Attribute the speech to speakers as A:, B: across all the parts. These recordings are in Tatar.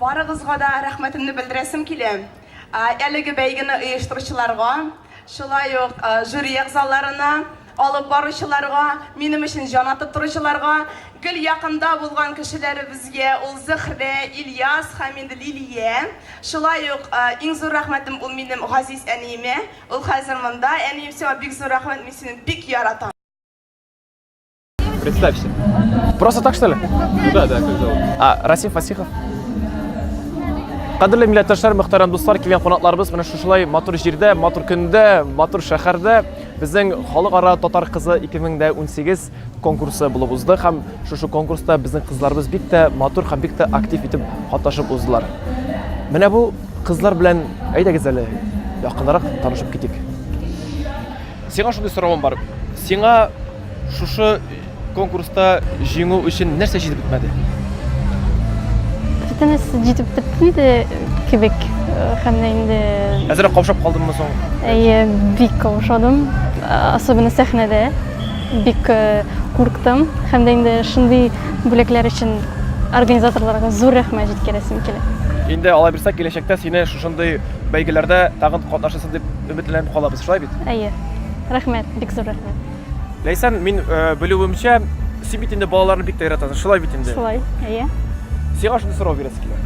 A: Барыгызга
B: да рәхмәтемне белдерәсем килә. Әлеге бәйгене оештыручыларга, шулай ук жюри әгъзаларына, Алып баручыларга, минем өчен җан атып торучыларга, гел якында булган кешеләребезгә, ул Зөһрә, Ильяс һәм инде Лилия. Шулай ук иң зур рәхмәтем ул минем газиз әниемә. Ул хәзер монда. Әнием, сиңа бик зур рәхмәт, мин сине бик яратам.
C: Представься. Просто так, что ли? Ну да, да, как зовут?
A: А, Расим Фасихов.
C: Кадерле милләттәшләр, мөхтәрәм дуслар, килгән кунакларыбыз менә шушылай матур җирдә, матур көндә, матур шәһәрдә Безнең халыкара татар кызы 2018 конкурсы булып узды һәм шушы конкурста безнең кызларыбыз бик тә матур һәм бик тә актив итеп катнашып уздылар. Менә бу кызлар белән әйдәгез әле якынрак танышып китик. Сиңа шундый соравым бар. Сиңа шушы Конкурста җиңү өчен нәрсә җитеп бетмәде?
D: Бөтенесе җитеп бетмәде кебек һәм дә инде. Әзрәк каушап
C: калдыммы соң? Әйе, бик
D: каушадым. Особенно сәхнәдә бик э, курктым һәм дә инде шундый бүләкләр өчен организаторларга зур рәхмәт җиткерәсем килә. Инде алай булса,
C: киләчәктә сине шушындый бәйгеләрдә тагын катнашасың дип өметләнеп калабыз, шулай бит? Әйе. Рәхмәт,
D: бик зур рәхмәт. Ләйсән, мин
C: белүемчә, син бит инде балаларны бик тә яратасың, шулай бит инде? Шулай, әйе.
D: Сиңа
C: шундый сорау бирәсе килә.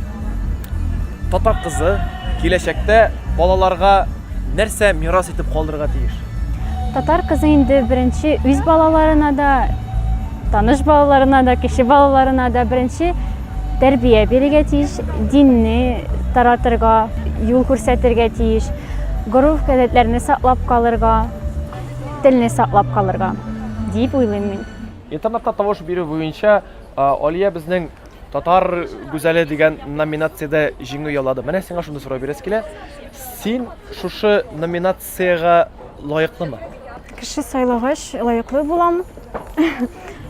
C: Татар кызы киләчәктә балаларга нәрсә мирас итеп калдырырга тиеш? Татар кызы
D: инде беренче үз балаларына да, таныш балаларына да, кеше балаларына да беренче тәрбия бирергә тиеш, динне таратырга, юл күрсәтергә тиеш, горур гадәтләрне саклап калырга, Телне саклап калырга, дип уйлыйм мин. Интернетта тавыш
C: бирү буенча Алия безнең татар гүзәле дигән номинациядә җиңү яулады. Менә сиңа шундый сорау бирәсе килә. Син шушы номинациягә лаеклымы? Кеше
E: сайлагач лаеклы булам.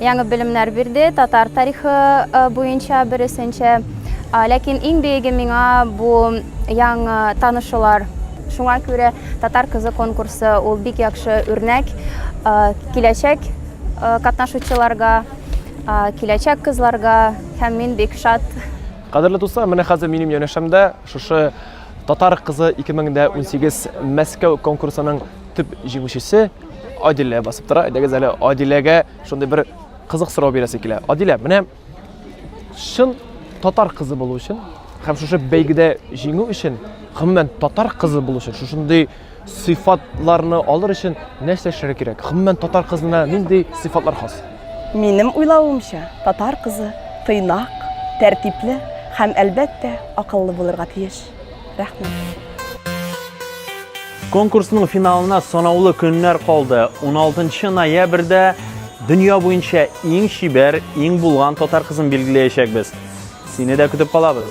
F: Яңы белемнәр бирде, татар тарихы буенча бересенчә. Ләкин иң биеге миңа бу яңа танышулар. Шуңа күрә Татар кызы конкурсы ул бик яхшы үрнәк киләчәк катнашучыларга, киләчәк кызларга һәм мин бик шат. Кадерле дуслар,
C: менә хәзер минем янәшәмдә шушы Татар кызы 2018 Мәскәү конкурсының төп җиңүчесе, Адилә басып тора. Әйдәгез әле Адиләгә шундый бер кызык сорау бирәсе килә. Адилә, менә чын татар кызы булу өчен һәм шушы бәйгедә җиңү өчен, гомумән татар кызы булу өчен, шушындый сыйфатларны алыр өчен нәрсә эшләргә кирәк? Гомумән татар кызына нинди сыйфатлар хас? Минем
G: уйлавымча, татар кызы тыйнак, тәртипле һәм, әлбәттә, акыллы булырга тиеш. Рәхмәт.
H: Конкурсның финалына санаулы көннәр калды. 16 ноябрьдә дөнья буенча иң чибәр, иң булган татар кызын билгеләячәкбез. Сине дә көтеп калабыз.